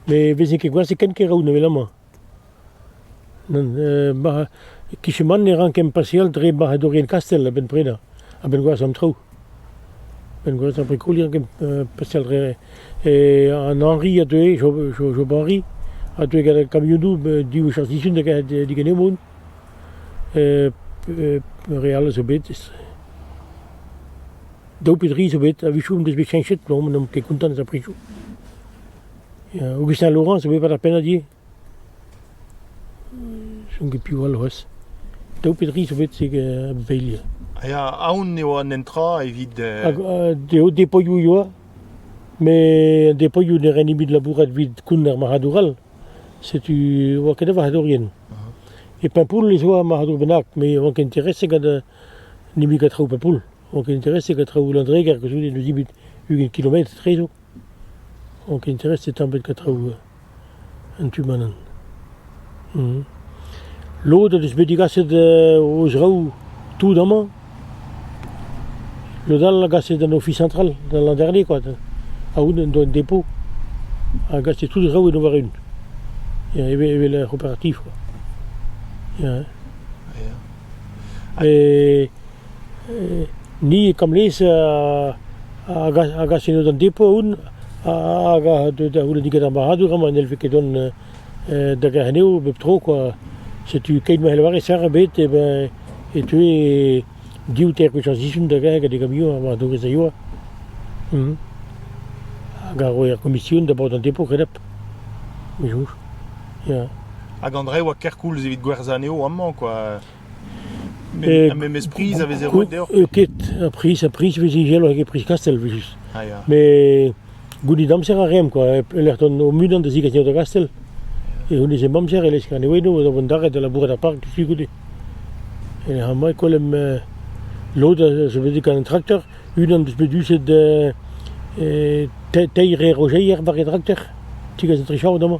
Met vezin ket gwazh ken kêr-raoù evelañ-mañ. Nann, kichen-man ne ran ken pasial dre barc'hadourien kastell a-benn prenañ, a-benn gwazh an traoù. A-benn gwazh ar brikoù ne ran ken pasial dre... an Henri a deue, Job Henri, a deue gant kamionoù div wech ar sizhun da digen eo mont. re all zo bet. Daou pe dri zo bet. A-wechoù en deus bet cheñchet plomm, n'omp ket kontant eus ar prizoù. Aogustin Laurent zo bet war ar pennad ivez. Chom ket piv all c'hoazh. Daou pe dri zo bet zeg a-beilh. Ya, aon eo an netra evit... Eo depoioù e oa. Met depoioù ne ren ebet labourat evit koun ar marc'hadour all. Setu e oa ket da varc'hadourien. E Paimpoull ez oa marc'hadour bennak, met ne oant ket intereset gant nemet gant traoù Paimpoull. Ne oant ket intereset gant traoù Landreger, koulskoude n'eus nemet ugent kilometr etrezo. Ne oant ket intereset tamm ebet gant traoù an tu-manan. Lod o deus bet degaset o zraoù tout amañ. Lod all a gase d'an Ofis Central, da Landerne kwa, aon en doa un depo a gase tout traoù en o war-eeun, evel evel er c'hooperativ kwa, ya. E ni e Kamlez a gase d'an depo aon hag a deu da c'houlenn digant ar marc'hadour amañ n'hellfe ket dont. da Garnev bep tro kwa. Setu keit ma lavarit sac'h ebet eh ben e teue div ter gwech ar sizhun da vont gant e gamion ha war-dogez a yoa. Hag a roe ar gomision da baotr an depo kenap. Me soñj, ya. Hag Andre a oa kerkoulz evit gwerzhañ anezho amañ, kwa. Met goût eo ket ar priz, ar priz a vez heñvel hag ar priz kastell frijus. Met gounit amzer a reomp kwa, e-lec'h dont o-unan da zigas nebeut a gastell, e c'hounezemp amzer e lesk an eeudoù da vont d'arret da labourat er park diouzhtu goude. E-lec'h amañ e kollemp lod a zo bet gant an trakter, unan deus bet duset teir rejeier war e drakter, tigaz an tri chaod amañ.